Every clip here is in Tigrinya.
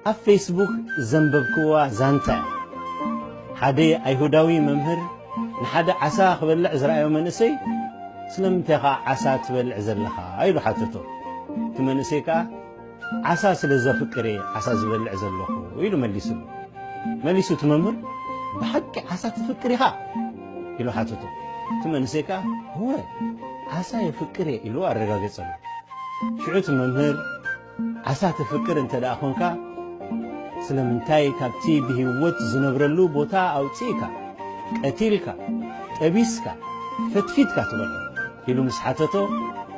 ኣብ ፌስቡክ ዘንበብክዋ ዛንታ እያ። ሓደ ኣይሁዳዊ መምህር ንሓደ ዓሳ ክበልዕ ዝረኣዮ መንእሰይ ስለምንታይ ኢኻ ዓሳ ትበልዕ ዘለኻ ኢሉ ሓተቶ። እቲ መንእሰይ ከኣ ዓሳ ስለ ዘፍቅር እየ ዓሳ ዝበልዕ ዘለኹ ኢሉ መሊሱሉ። መሊሱ እቲ መምህር ብሓቂ ዓሳ ትፍቅር ኢኻ ኢሉ ሓተቶ። እቲ መንእሰይ ከኣ እወ ዓሳ የፍቅር እየ ኢሉ ኣረጋገጸሉ። ሽዑ እቲ መምህር ዓሳ ተፍቅር እንተ ደኣ ኾንካ ስለምንታይ ካብቲ ብህይወት ዝነብረሉ ቦታ ኣውጺእካ ቀቲልካ ጠቢስካ ፈትፊትካ ትበልዖ? ኢሉ ምስ ሓተቶ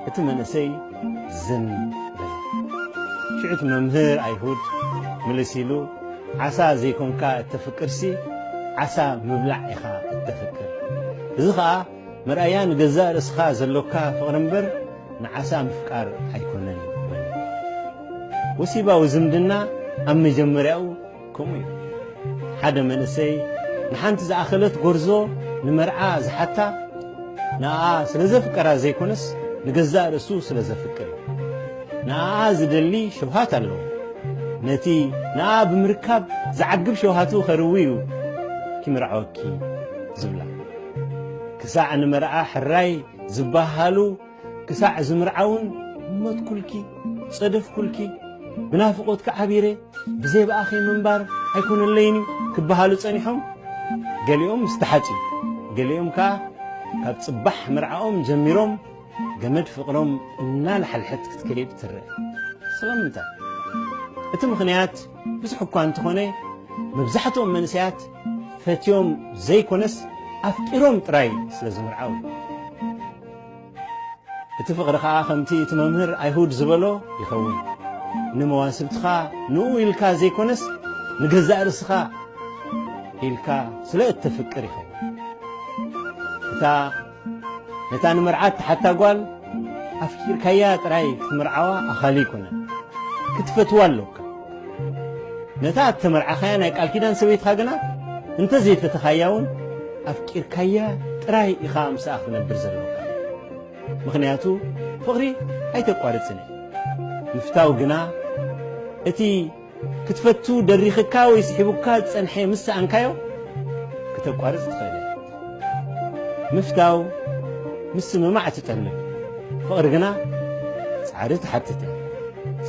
እቲ መንእሰይ ዝን በለ። ሽዑ እቲ መምህር ኣይሁድ ምልስ ኢሉ ዓሳ ዘይኮንካ እተፍቅርሲ ዓሳ ምብላዕ ኢኻ እተፍቅር እዚ ኸኣ መርኣያ ንገዛእ ርእስኻ ዘሎካ ፍቕሪ እምበር ንዓሳ ምፍቃር ኣይኰነን በለ። ወሲባዊ ዝምድና ኣብ መጀመርያኡ ከምኡ እዩ። ሓደ መንእሰይ ንሓንቲ ዝኣኸለት ጐርዞ ንመርዓ ዝሓታ ንኣኣ ስለ ዘፍቀራ ዘይኰነስ ንገዛእ ርእሱ ስለ ዘፍቅር እዩ። ንኣኣ ዝደሊ ሸውሃት ኣለዎ። ነቲ ንኣኣ ብምርካብ ዝዓግብ ሸውሃቱ ከርዊ እዩ ኪምርዐወኪ ዝብላ። ክሳዕ ንመርዓ ሕራይ ዝበሃሉ ክሳዕ ዝምርዓውን ሞትኩልኪ ጸደፍኩልኪ ብናፍቖትኪ ዓቢረ ብዘይ ብኣኺ ምንባር ኣይኮነለይን እዩ ክበሃሉ ጸኒሖም ገሊኦም ምስ ተሓጽዩ ገሊኦም ከኣ ካብ ጽባሕ መርዓኦም ጀሚሮም ገመድ ፍቕሮም እናልሓልሐት ክትከይድ ትርአ ስለምንታይ እቲ ምኽንያት ብዙሕ እኳ እንተኾነ መብዛሕትኦም መንእሰያት ፈትዮም ዘይኮነስ ኣፍቂሮም ጥራይ ስለ ዝምርዓው እዩ። እቲ ፍቕሪ ኸኣ ከምቲ እቲ መምህር ኣይሁድ ዝበሎ ይኸውን። ንመዋስብትኻ ንኡ ኢልካ ዘይኮነስ ንገዛእ ርእስኻ ኢልካ ስለ እተፍቅር ይኸውን። እታ ነታ ንመርዓት ትሓታ ጓል ኣፍቂርካያ ጥራይ ክትምርዓዋ ኣኻሊ ኣይኮነን ክትፈትዋ ኣለካ ነታ እተመርዓኻያ ናይ ቃል ኪዳን ሰበይትኻ ግና እንተዘይፈተኻያ እውን ኣፍቂርካያ ጥራይ ኢኻ ምስኣ ክነብር ዘለካ ምክንያቱ ፍቕሪ ኣይተቋርፅን እዩ ምፍታው ግና እቲ ክትፈቱ ደሪኽካ ወይ ስሒቡካ ዝጸንሐ ምስ ሰኣንካዮ ክተቋርጽ ትኽእል ኢኻ። ምፍታው ምስምማዕ ትጠልብ፣ ፍቕሪ ግና ጻዕሪ ትሓትት እያ።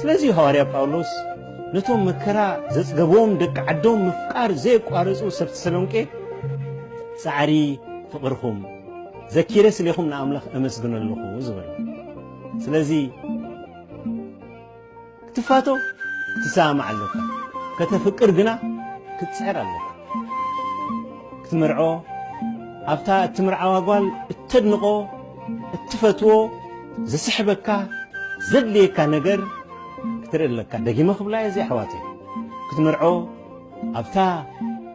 ስለዚ እዩ ሃዋርያ ጳውሎስ ነቶም መከራ ዘጽገቦም ደቂ ዓዶም ምፍቃር ዘየቋረጹ ሰብ ተሰሎንቄ ጻዕሪ ፍቕርኹም ዘኪረ ስሌኹም ንኣምላኽ እመስግኖ ኣለኹ ዝበሎ። ስለዚ ክትፋቶ ክትሰማማዕ ኣሎካ ከተፍቅር ግና ክትጽዕር ኣሎካ ክትምርዖ ኣብታ እትምርዓዋ ጓል እተድንቆ እትፈትዎ ዝስሕበካ ዘድልየካ ነገር ክትርኢ ኣለካ ደጊመ ክብላ እየ እዚ ኣሕዋተይ ክትምርዖ ኣብታ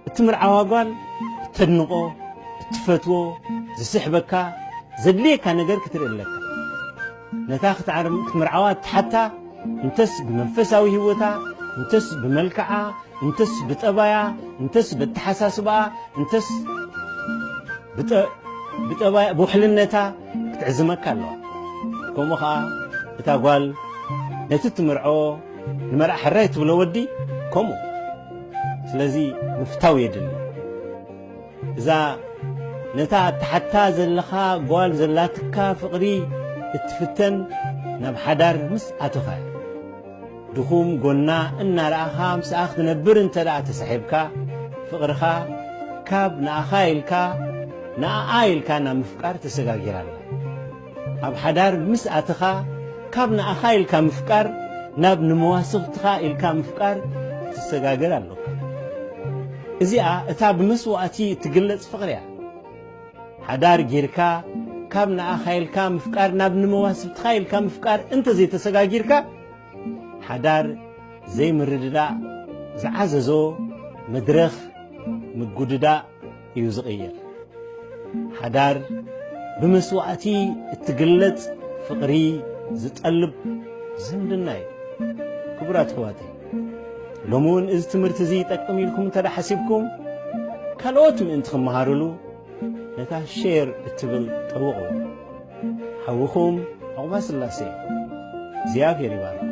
እትምርዓዋ ጓል እተድንቆ እትፈትዎ ዝስሕበካ ዘድልየካ ነገር ክትርኢ ኣለካ ነታ ክትዓርም ክትምርዓዋ እትሓታ እንተስ ብመንፈሳዊ ህይወታ እንተስ ብመልክዓ እንተስ ብጠባያ እንተስ በተሓሳስባኣ እንተስ ብጠባያ ብውሕልነታ ክትዕዝመካ ኣለዋ ከምኡ ከዓ እታ ጓል ነቲ እትምርዖ ንመርዓ ሕራይ ትብሎ ወዲ ከምኡ ስለዚ ምፍታው የድሊ እዛ ነታ ኣትሓታ ዘለኻ ጓል ዘላትካ ፍቕሪ እትፍተን ናብ ሓዳር ምስ ኣተኻ እያ። ድኹም ጎና እናረኣኻ ምስኣ ክትነብር እንተ ተሳሒብካ ፍቕርኻ ካብ ንኣኻ ኢልካ ንኣኣ ኢልካ ናብ ምፍቃር ተሰጋጊራ ኣላ። ኣብ ሓዳር ምስ ኣተኻ ካብ ንኣኻ ኢልካ ምፍቃር ናብ ንመዋስኽትኻ ኢልካ ምፍቃር ትሰጋገር ኣሎካ። እዚኣ እታ ብመስዋእቲ እትግለጽ ፍቕሪ እያ። ሓዳር ጌርካ ካብ ንኣኻ ኢልካ ምፍቃር ናብ ንመዋስብትኻ ኢልካ ምፍቃር እንተ ዘይተሰጋጊርካ ሓዳር ዘይምርድዳእ ዝዓዘዞ መድረኽ ምጉድዳእ እዩ ዝቕየር። ሓዳር ብመስዋእቲ እትግለጽ ፍቕሪ ዝጠልብ ዝምድና እዩ። ክቡራት ኣሕዋተይ ሎሚ እውን እዚ ትምህርቲ እዚ ይጠቅም ኢልኩም እንተ ሓሲብኩም ካልኦት ምእንቲ ክመሃርሉ ነታ ሼር እትብል ጠውቑ። ሓውኹም ዕቑባ ስላሴ እግዚኣብሔር ይባርኩም።